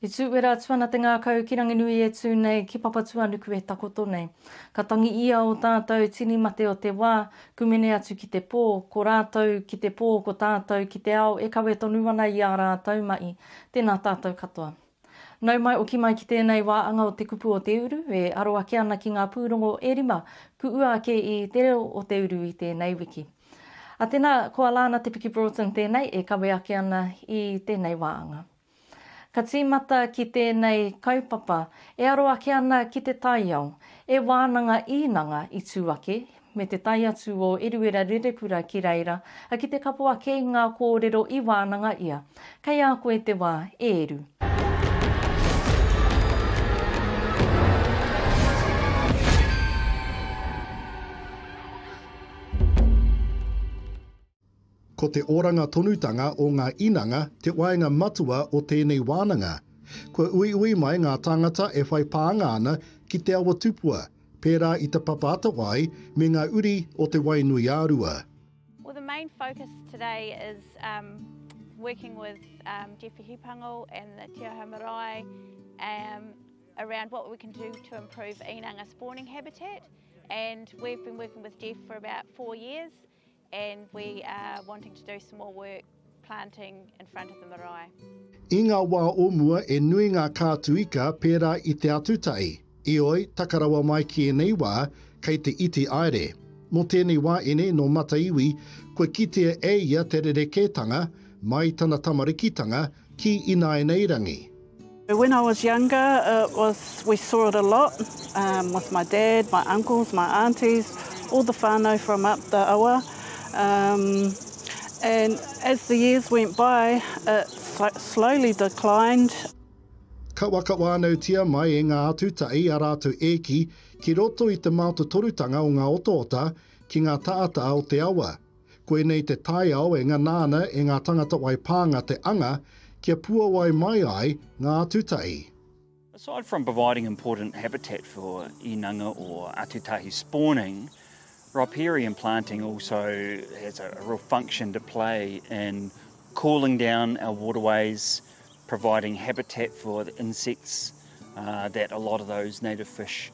I tūwera atu ana te ngākau ki Ranginui e tū nei ki Papatūanuku e takoto nei. Ka tangi ia o tātou tini mate o te wā, kumene atu ki te pō, ko rātou ki te pō ko tātou ki te ao e kawe tonu ana i ā rātou mahi. Tēnā tātou katoa. Nau mai oki mai ki tēnei wā anga o te kupu o te uru, e aro ake ana ki ngā pūrongo e rima kuʻua ake i Te Reo o te Uru i tēnei wiki. A tēnā, ko Alana Te Piki Broughton tēnei e kawe ake ana i tēnei wā anga. Ka tīmata ki tēnei kaupapa e aro ake ana ki te taiao, e wānanga īnanga i tū ake, me te tae atu o Eruera Rerepura ki reira, a ki te kapo ake i ngā kōrero i wānanga ia. Kei a koe te wā, e Eru. Ko te oranga tonutanga o ngā inanga te waenga matua o tēnei wānanga. Kua uiui mai ngā tāngata e whai pānga ana ki te awa tupua, pērā i te papa atawai me ngā uri o Te Wainuiārua. Well the main focus today is um working with um Jeff Hipango and the Te Aha Marae um around what we can do to improve inanga spawning habitat and we've been working with Jeff for about four years And we are wanting to do some more work planting in front of the marae. I ngā wā o mua e nui ngā kātu ika pērā i te atutahi, ioi, taka rawa mai ki ēnei wā, kei te iti aere. Mō tēnei wāene nō Mataiwi, kua kitea e ia te rerekētanga, mai tana tamarikitanga, ki inainairangi. When I was younger it was we saw it a lot with my dad, my uncles, my aunties, all the whanau from up the awa and as the years went by it slowly declined. Kawakawānautia mai e ngā atutahi a rātou ēki ki roto i te mātotorutanga o ngā otaota ki ngā tāta o te awa, Koinei te taiao e ngana ana e ngā tangata wai pānga te anga kia puawai mai ai ngā atutahi. Aside from providing important habitat for inanga or atutahi spawning, riparian planting also has a real function to play in cooling down our waterways, providing habitat for the insects that a lot of those native fish